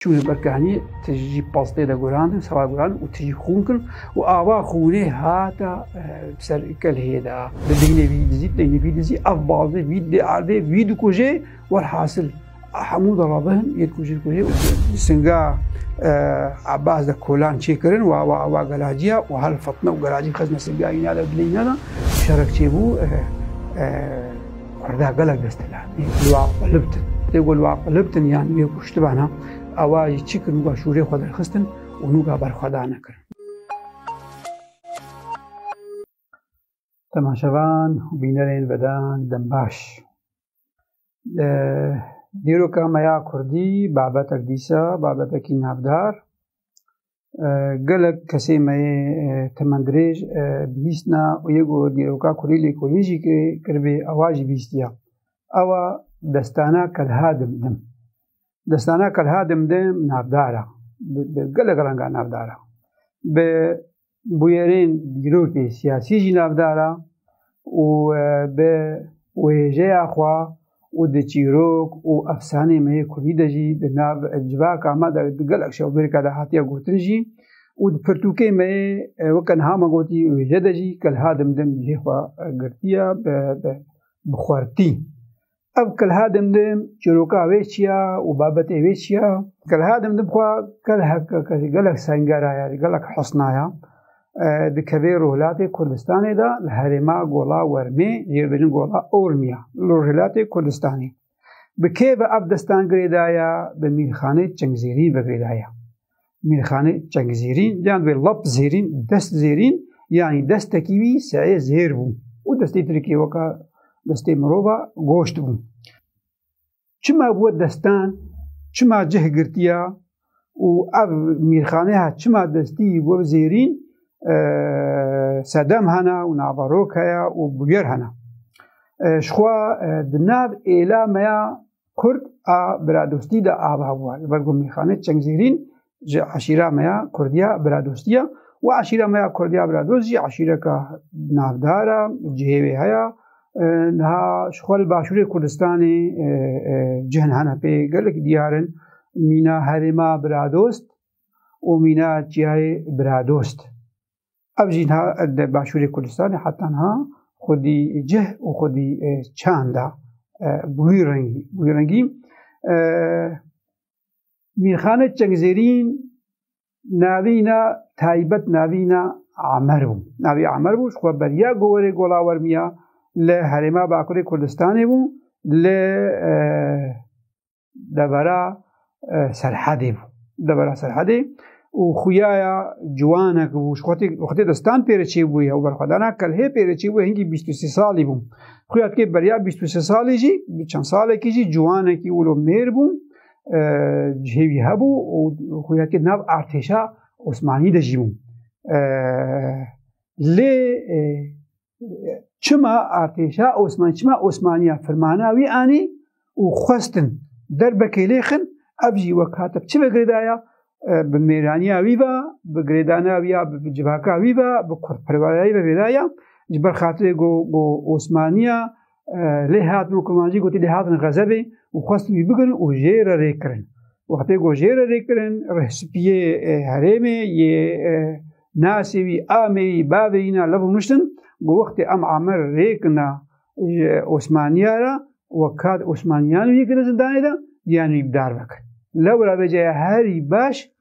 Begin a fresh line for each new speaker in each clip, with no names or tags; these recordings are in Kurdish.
Çûn li ber kehnî tijî pastê de gurandin, sewa gurandin û tijî xûn kirin û ava xûnê hata ser kelhê de. Di deynê vî dizî, deynê vî dizî, ev baldê vî diardê, vî dikujê, welhasil hemû dala bihin yê dikujê dikujê. Di singa Ebas de kolan çêkirin û ava ava gelaciya û hal fitne û gelacî xizne singa îna de dilê îna de. Şerek çêbû. Kurda gelek desthilat in ku li wan qulibtin. Lê ku li wan qulibtin yan wê kuştibana ewa jî çi kir nûka şûrê xwe derxistin û nûka berxwedana kirin. Temaşevan û bînerên vedan dem baş. Li dîroka me ya kurdî babetek dîsa babetekî navdar gelek kesê me yê temendirêj bihîstina û yê ku dîroka kurî lê kolî jî kiribê ewa jî bihîstiya. Ewa destana kelha dimdim. Destana kelha dimdim navdar a. Bi gelek renga navdar a. Bi bûyerên dîrokê siyasî jî navdar a. û bi wêjeya xwe û di çîrok û efsaneyên me yê kurdî de jî di nav civaka me de di gelek şewbêrika de hatiye gotin jî û di pirtûkê me yê weke niha me gotî wêje de jî kelha dimdim lê xwe girtiye bi xwertî. Ev kelha dim dim çîroka wê çiya û babetê wê çiya. Kelha dim dim xwa gelek gelek sengera ya gelek husna ya. Dikevê rûhilatê Kurdistanê de li herêma gola wermê jêbêjin gola Ormiya li rûhilatê Kurdistanê. Bi kê bi ev destan girêdaya bi mîrxanê çingzêrî vegirêdaya. Mîrxanê Çengzêrîn yan vê lap zêrîn dest zêrîn yanî destekî wî seyê zêr bû û destê tirkê weka destê mirova goşt bû. Çima bû destan çima cih girtiya û ev mîrxanê ha çima destî bo zêrîn e, sedem hena û navarok heya û bûyer hena. E, Şixwa e, di nav êla meya Kurd a biradostî de ava bû. Li ber ku mîxane çengzêrîn ji eşîra me ya Kurdiya biradostî ya û eşîra me ya Kurdiya biradost jî eşîreka navdar e, cihê wê heye. Niha ji xwe li başûrê Kurdistanê cihn hene pê gelek diyar in mîna herêma biradost û mîna çiyayê biradost. Ev jî niha di başûrê Kurdistanê heta niha xwedî cih û xwedî çanda bi wî rengî bi wî rengî Mîrxanê Çengzêrîn navîna taybet navîna Amer bû. Navî Amer bû xwe beriya gowerê golawermiya li herêma Bakurê Kurdistanê bû li devera serhedê bû devera serhedê û xuyaya ciwanek bû xwetê destan pêre çê bûye û berxwedana kelhê pêre çê bûye hingî bîst û sê salî bû xuya dikê beriya bîst û sê salî jî çend salekî jî ciwanekî wilo mêr bû cihêwî hebû û xuya dikê nav artêşa Osmanî de jî bû lê çima artêşa Osman çima Osmaniya firmana wî anî û xwestin derbekê lê xin ev jî wek hate çi vegirêdaya bi mêraniya wî ve bi girêdana wî ya bi civaka wî ve bi kurperwerayî vegirêdaya ji ber xatirê go go Osmaniya lê hatin û Kurmancî gotî lê hatin xezebê û xwestin wî bigirin û jê re rê kirin. Wextê ku jê re rê kirin rehsipiyê herêmê yê nasê wî amê wî bavê wî na lev û miştin ku wextê em Amer rê kina Osmaniya re we kat Osmaniyan wî kirin zindanê de diyan wî bidar vekir. Lewra vê caya herî baş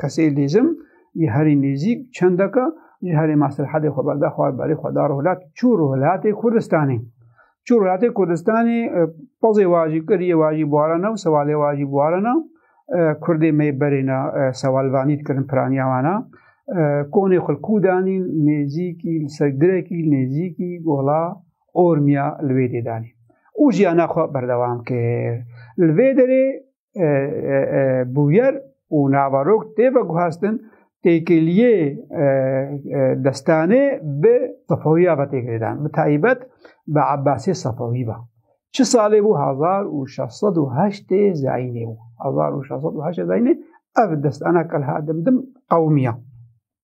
Kesê lêzim ji herî nêzîk çendeka ji herî maslehedê xwe berde xwe berê xwe da rûhlat çû rûhlatê Kurdistanê. Çû rûhlatê Kurdistanê pozê wajî kiriyê wajî buarana û sewalê wajî buarana Kurdê me berêna sewalvanî dikirin piraniya wana. Konê xulkû danî nêzîkî li ser girekî nêzîkî gola ormiya li wê dê danî. û jiyana xwe berdewam kir. Li vê derê bûyer û navarok tê veguhestin têkiliyê destanê bi Sefewîya ve tê girêdan bi taybet bi Abbasê Sefewî ve. Çi salê bû 1608 zayînê bû 1608 zayînê ev destana kelha dimdim qewmiya.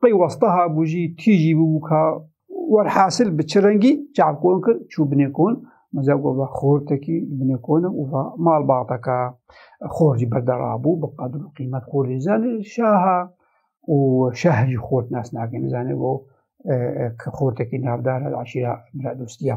Peywaste habû jî tîjî bûbû ka werhasil bi çi rengî çavkon kir çû binê kon. Meza gova xortekî binê kon û va mal baxteka xor jî berde rabû bi qedir û qîmet xor jî zanê şaha û şeh jî xort nas nakin zanê bo ki xortekî navdar eşîra bira dostiya.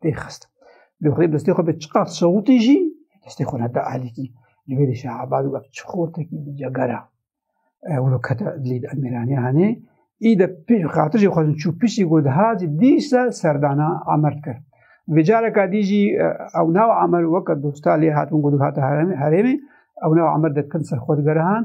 pê xist bi xwe destê xwe bi çiqat sewtî jî destê xwe neda alîkî li wê dişa abad wek çi xortekî bi cegara wilo kete dilê de emiraniya hanê î de pê xatir jî xwezin çû pişî got hacî dîsa serdana amerd kir vê careka dî jî ew nav amer weke dosta lê hatin got hate herêmê ew nav amer de kin ser xwe digerihan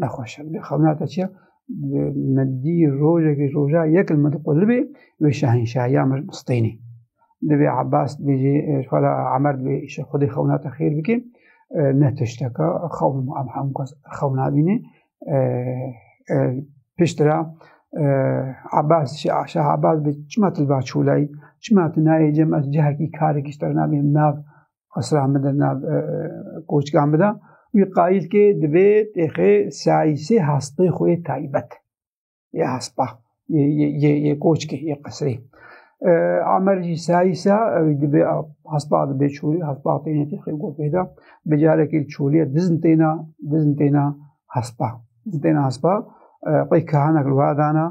nexweşe bidê xemna te çiya me dî rojekî roja yekin me diqulibê wê şehenşahiya me mistênê divê Abbas dêjê fala Emer divê îşe xwedê xewna te xêr bikê ne tişteka xewn em hemû kes xewna bînê piştira Abbas şah Abbas bi çima tilva çûlayî çima tu nayê cem ez cihekî karekî ji te re nabînim nav asra min de nav koçka min de wî qayîl kê divê têxê sayîsê hastê xwe yê taybet yê hespa yê koçkê yê qesrê amer jî sayîsa ew divê hespa divê çolî hespa têne têxê gotê de bi carekê çolîye dizin têna dizin têna hespa dizin têna hespa qey kahanek li wadana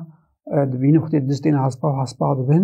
dibînin xwê diz têna hespa hespa dibin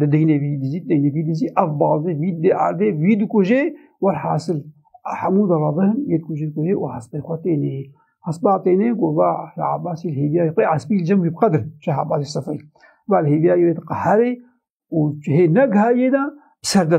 Di deynê vî dizî, deynê vî dizî, ev bazê vî dê erdê vî dikujê welhasil hemû dalabihin yê dikujê dikujê û hespê xwe tênê. Hespa tênê ku va Şah Abbasî li hêviyayê xwe espî li cem wî biqedir Şah Abbasî Sefeyî. Va li hêviyayê wê diqeherê û hê ne gihayê de bi ser de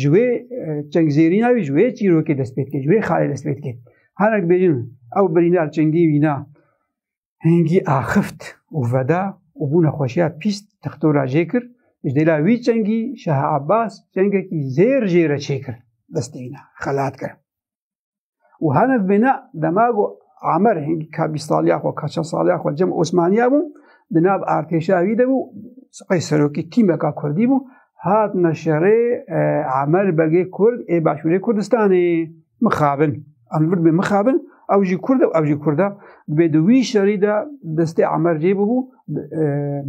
ji wê çengzêrîna wî ji wê çîrokê dest pê dikir ji wê xalê dest pê dikir hinek bêjin ew birîndar çengî wîna hêngî axift û veda û bû nexweşiya pîst textora jê kir ji dêla wî çengî şeha Abbas çengekî zêr jê re çêkir destê wîna xelat kir û heniz bêne dema ku Amer hingî ka bîst saliya xwe ka çend saliya xwe cem Osmaniya bû di nav artêşa wî de bû qey serokî tîmeka Kurdî bû hat neşerê e, Amer begê Kurd ê başûrê Kurdistanê mixabin em vir bê mixabin ew jî Kurd ew jî Kurd e dibê di wî şerî de destê Amer cê bû e,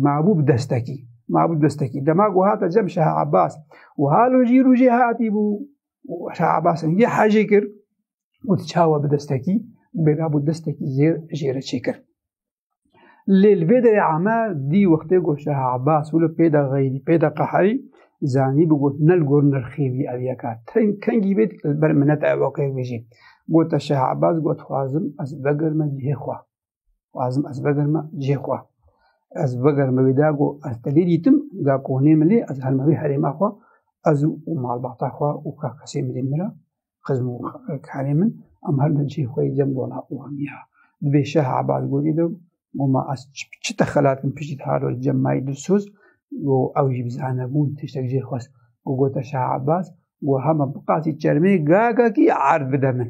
mabû bi destekî mabû destekî dema ku hate cem şeha Abbas û halo jî rûjê hatî bû û Şah Abbas engê hejê kir û di çawa bi destekî bêda bû destekî zêr jê re çêkir. Lê li vê derê ame dî wextê got Şah Abbas û li pêda xeyrî pêda qeherî zanî bi got nel gor nirxêvî ev yeka teng kengî bêt li ber minete ev okê bijî. Gota Şah Abbas got xwazim ez vegirme cihê xwe. Wazim ez vegerme cihê xwe. Ez vegerme wê da got ez telê dîtim ga konê min lê ez helme wê herêma xwe ez û malbata xwe û ka kesê min lê min ra xizm û karê min em her min cihê xwe yê cem dona û hemiya. Di bê şeh ebaz godî de goma ez çi te xelatim piştî haro cem mayî dilsoz û ew jî bizane bûn tiştek cihê xwest û gote şeh ebaz û hema biqasî çermê gagakî erd bide min.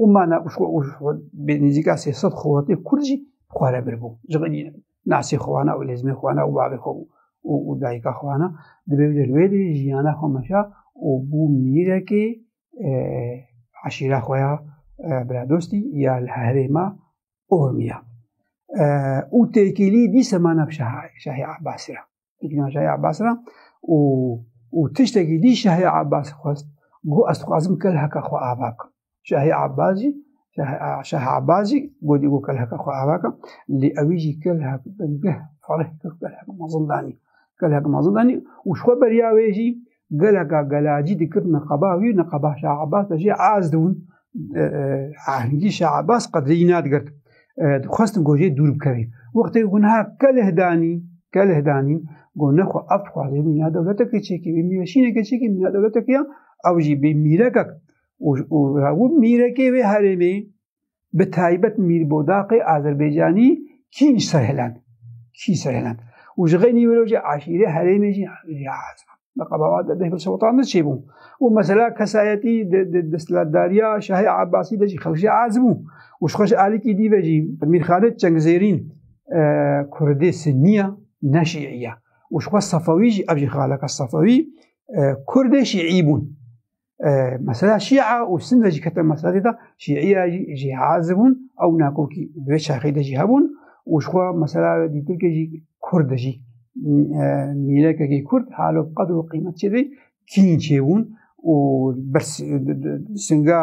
û mana bi nêzîka sê sed xelatê kurd jî xware birbû ji xwe nasê xwana û lêzmê xwana û bavê xwe û dayika xwana dibê wê wê dê jiyana xwe meşa û bû mîrekê eşîra xwe ya biradostî ya li herêma ormiya û têkîlî dîse mana şahê Abbasî ra Têkîna Şahê Abbas ra û û tiştekî dî Şahê Abbas xwest got ez dixwazim kelheka xwe ava bikim. Şahê Abbas jî Şahê Abbas jî got êgo kelheka xwe ava bikim lê ew jî kelhek bingeh fereh kir kelhek me zindanî kelhek me zindanî û ji xwe beriya wê jî geleka gelacî dikir niqaba wî niqaba Şah Abbas de jî az dibûn ahengî Şah Abbas qedrî nadigirt dixwestin ku jê dûr bikevî wextê ku niha keleh danî keleh danî ku ne xwe ev dixwazê mîna dewleteke çêkî wî mîveşîneke çêkî mîna dewleteke ya ew jî bê mîrekek û mîrekê wê herêmê bi taybet Mîr Bodaqê Azerbaycanî kî ji ser hêland kî ji ser hêland û ji xênî wêrojê eşîrê herêmê jî Meqabawa de deh Sotan de çêbû û mesela kesayetî destlatdariya Şahê Abbasî de jî xewşê ez bû û ji xweş alikî dî ve jî Mîr Xalid Çengzêrîn Kurdê Sinniya ne Şîiya û ji xwe Sefewî jî ev jî xaleka Sefewî Kurdê Şîî bûn. mesela şî'a û sin de jî kete meseladê de şî'iya jî jî hazir bûn ew nakokî di vê çaxê de jî hebûn û ji xwe mesela dîtirkê jî kurd jî mîlekekî kurd halo qedr û qîmet çêdî kîn çêbûn û singa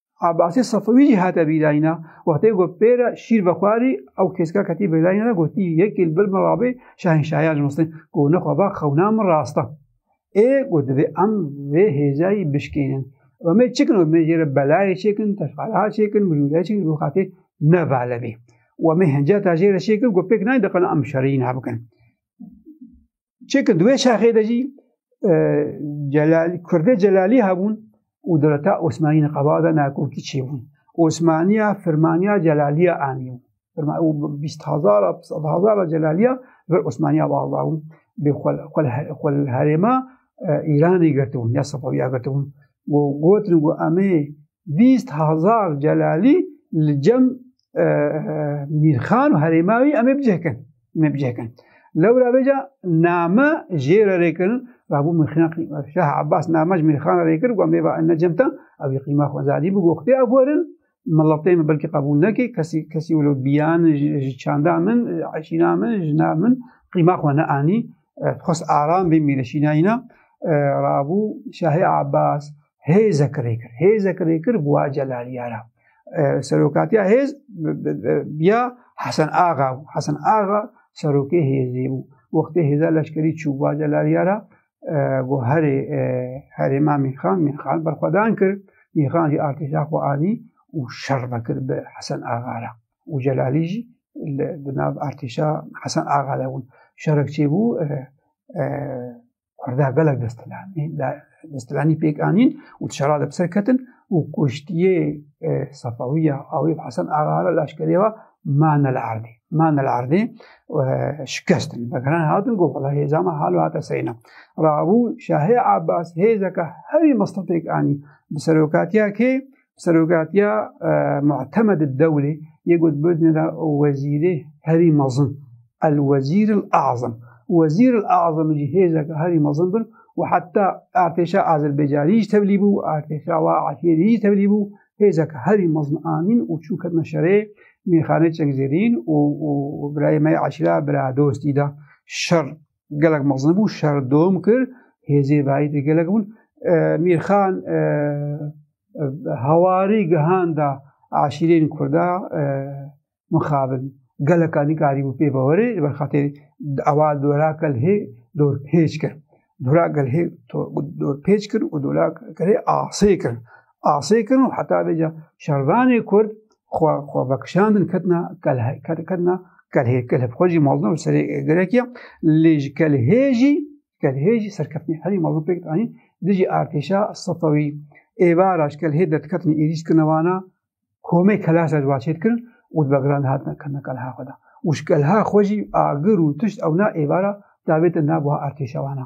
Abasê Safewî jî hate bîrayîna wextê ku pêra şîr vexwarî ew têzka ketî bêrayîna de gotî yekê li bil min rabê şahinşahiya ji Misin ku nexwe ba xewna min rasta. Ê ku divê em vê hêzayî bişkênin. Em ê çikin em ê jê re belayê çêkin, teşxara çêkin, mijûleyê çêkin ku xatê ne vale bê. Û em ê hinceta jê re çêkin ku pêk nayê diqilin em şerî ne bikin. Çêkir di wê şaxê de jî Kurdê Celalî hebûn û dewleta Osmanî li qeba de nakokî çêbûn. Osmaniya firmaniya Celaliya anî bîst hezara sed hezara Celaliya vir Osmaniya bava bûn bê xwe li herêma Îranê girtibûn ya Sefawiya girtibûn û gotin û emê bîst hezar Celalî li cem Mîrxan û herêma wî emê bicihkin. me bi cih kirin. Lewra vê ca name jê re rê kirin va bû mirxîna qîma. Şah Abbas name ji mirxana rê kir got mêva ene cemta ew ê qîma xwe zadî bi goxtê ev werin miletê min belkî qebûl nekê kesî kesî wilo biyan ji çanda min eşîna min jina min qîma xwe neanî xwest aram bê mîreşînayîna rabû Şahê Abbas hêzek rêkir hêzek rêkir bûa celaliyara serokatiya hêz ya Hesen Axa û Hesen Axa serokê hêzê bû wextê hêza leşkerî çû bûa celaliyara got herê herê ma mîrxan mîrxan berxwedan kir mîrxan jî artêşa xwe anî û şer vekir bi Hesen Axa re û celalî jî di nav artêşa Hesen Axa de bûn şerek çêbû Kurda gelek destelanî destelanî pêk anîn û dişera li ser ketin û kuştiyê e, Sefawiya awî Hesen Agara leşkerê ve mane li erdê. Mane li erdê e, şikestin. Begiran hatin got valla hêza me hal hate seyna. Rabû Şahê Abbas hêzeke herî mistefêk anî bi serokatiya kê Serokatiya Muhtemed Dewlê yê got bidnira wezîrê herî mezin el wezîr il azim. Wezîr il azim jî hêzeke herî mezin bir û heta artêşa Azerbaycanî jî tevlî bû, artêşa wa Efyênî jî tevlî bû, hêzeke herî mezin anîn û çû ketine şerê mîxanê çengzêrîn û birayê me yê eşîra bira dostî de şer gelek mezin bû şer dom kir hêzê bayî de gelek bûn mîrxan hewarî gihanda aşîrên kurda mixabin geleka nîkarî bû pê bawerê li ber xatir ewa dora kel hê dor pêç kir dora gel hê dor pêç kir û dora kel hê asê kir asê kirin û heta vêca şervanê Kurd xwe xwe vekişandin ketina ketina kelhê kelhê xwe jî maldin û serê gerekiya lê ji kelhê jî kelhê jî serkeftinê herî maldin pêk anîn dijî artêşa sefewî êvara ji kelhê dertiketinê êrîş dikirine wana komê kelasa ji waçê dikirin û di begiran hatina kirina kelha xwe da û ji kelha xwe jî agir û tişt ewna êvara davêtin nav wiha artêşa wana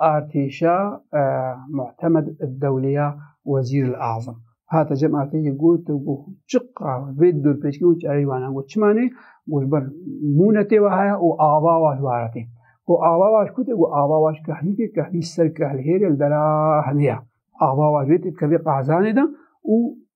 Artêşa Muhtemed Dewlê ya Wezîr el Azam hate cem artêşê got û got çiqa vê dûrpêçkî û çareyê wana got çima nê got ber mûnetê wa heye û ava wa ji waretê. Got ava wa ji kû tê got ava wa ji kehlî tê kehlî ser kehlhêrê li dera hemê ya. Ava wa ji wê tê dikevê qehzanê de û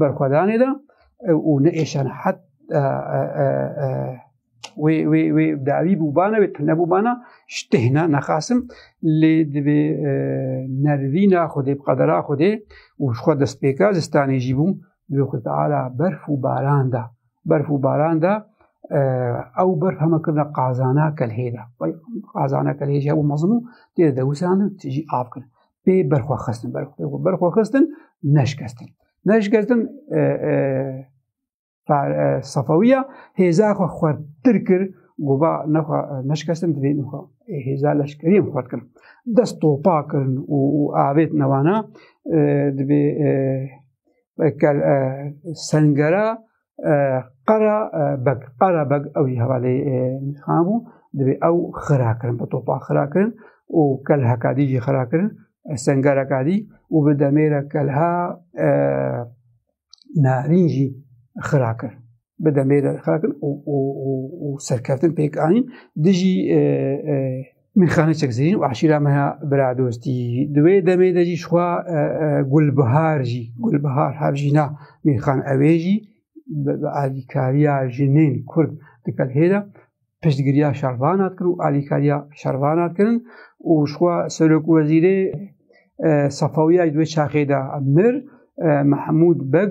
Berxwedanê de û ne êşan het wê wê wê dawî bûbana wê tune bûbana ji têhna nexasim lê divê nervîna xwedê bi qedera xwedê û ji xwe destpêka zistanê jî bû divê xwe teala berf û baran da berf û baran da ew berf heme kirina qazana kelhê de qazana kelhê jî hebû mezin û tê de dewusandin tijî av kirin pê berxwe xistin berxwe xistin neşkestin neşkestin sefawiya hêza xwe xwertir kir gova nexwe neşkestin divê nixwe hêza leşkeriyê xwert kirin dest topa kirin û avêt newana divê sengera qera beg qera beg ew jî hevalê mîrxan bû divê ew xira kirin bi topa xira kirin û kel hekadî jî xira kirin sengereka dî û bi demêre kelha narîn jî xira kir bi demêre xira kirin û serkeftin pêk anîn dijî Mîxane Çekzerîn û eşîra me ya biradostî di wê demê de jî xwa gulbihar jî gulbihar hevjîna mîxan ewê jî bi alîkariya jinên kurd dikek hêra piştgiriya şervan hatkirin û alîkariya şervan hatkirin û xwa serok wezîrê Safawiya di wê çaxê de mir Mehmûd Beg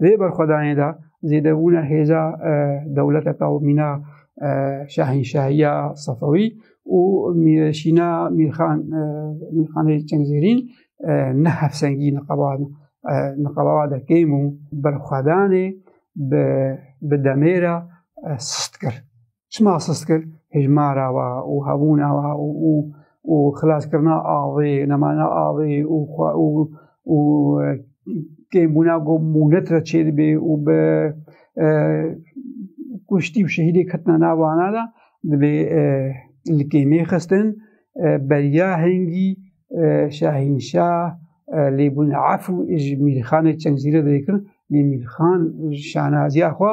Di vê berxwedanê de zêdebûna hêza e, dewleta taw mîna e, şahînşahiya Sefewî û mîreşîna Mîrxan e, Mîrxanê Çengzêrîn ne hevsengî niqaba niqaba de kêm û berxwedanê bi demêra sist kir. Çima sist kir hejmara wa û hebûna wa û û û xilaskirina avê, nemana avê û xwe û û e, kêmbûna ku mûnet re çêdibê û bi e, kuştî û şehîdê ketina nav ana de dibê e, li kêmê xistin beriya hengî şahînşah lêbûn ef û ji mîrxanê çengzîrê dêkirin lê mîrxan şanaziya xwe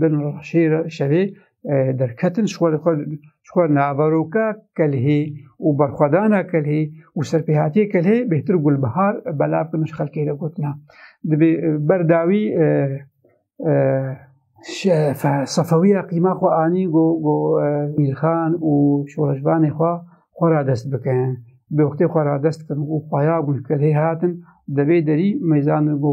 bin raşê şevê derketin ji xwe naveroka kelhê û berxwedana kelhê û serpêhatiyê kelhê bêhtir û gulbihar belav bin ji xelkê re gotina. Dibê berdawî sefewiya qîma xwe anî ku mîrxan û şoreşvanê xwe xwe radest bikin. Bi wextê xwe radest kirin û xweya gul kelhê hatin debê derî mêzan ku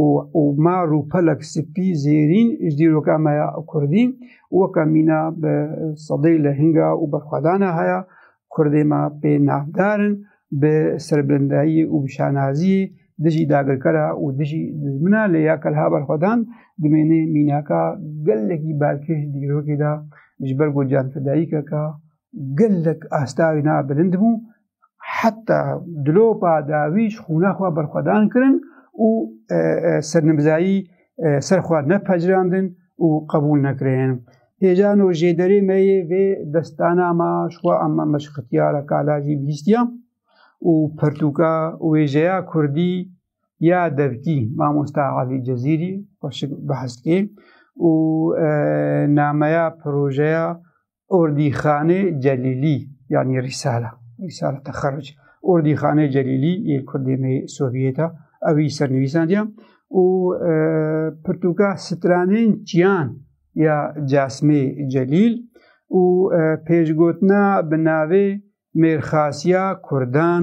û û ma rûpelek sipî zêrîn ji dîroka me ya Kurdî weke mîna bi sedê li hinga û berxwedana haya Kurdê me pê navdarin bi serbilindayî û bi şanaziyê dijî dagirkera û dijî dijmina lê ya kelha berxwedan dimêne mînaka gelekî balkêş dîrokê de ji ber ku canfidayîkeke gelek asta wî na bilind bû heta dilopa dawî ji xûna xwe berxwedan kirin û e, e, sernibzayî e, ser xwe nepecirandin û qebûl nekirin. Hêjan û jêderê me yê vê destana ma ji xwe ema me ji xitiyara kalajî bihîstiya û pertûka wêjeya Kurdî ya devkî mamosta Alî Cezîrî xweşik behs kê û nameya projeya Ordîxanê Celîlî yanî Rîsala Rîsala Texerruc Ordîxanê Celîlî yê Kurdê me Sovyêta ew î sernivîsandiya û e, pirtûka stranên çiyan ya Casmê Celîl û e, pêşgotina bi navê Mêrxasiya Kurdan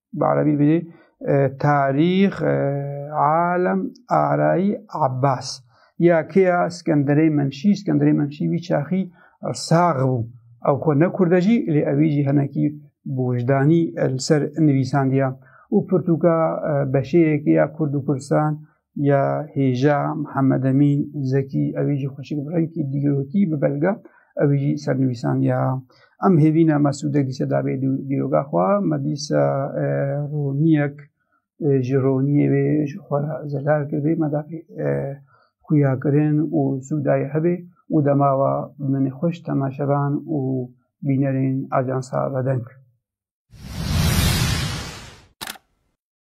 bi erebî bidî tarîx alem arayî Abbas ya kêya Skenderê Memşî Skenderê Memşî wî çaxî sax bû ew xwe nekurde jî lê ewî jî henekî bi wijdanî li ser nivîsandiya û pirtûka beşeyekê ya Kurd û Kurdistan ya hêja Mihemed Emîn Zekî ewî jî xweşik bi rengkî dîrokî bi belga ewî jî sernivîsan ya Em hêvîna Mesûdek dîse dabê dîroga xwe me dîsa roniyek ji roniyê wê ji xwe re zelal kiribe me dabê xuyakirin û sûdayê hebê û demawa min xweş temaşevan û bînerên Ajansa Vedeng.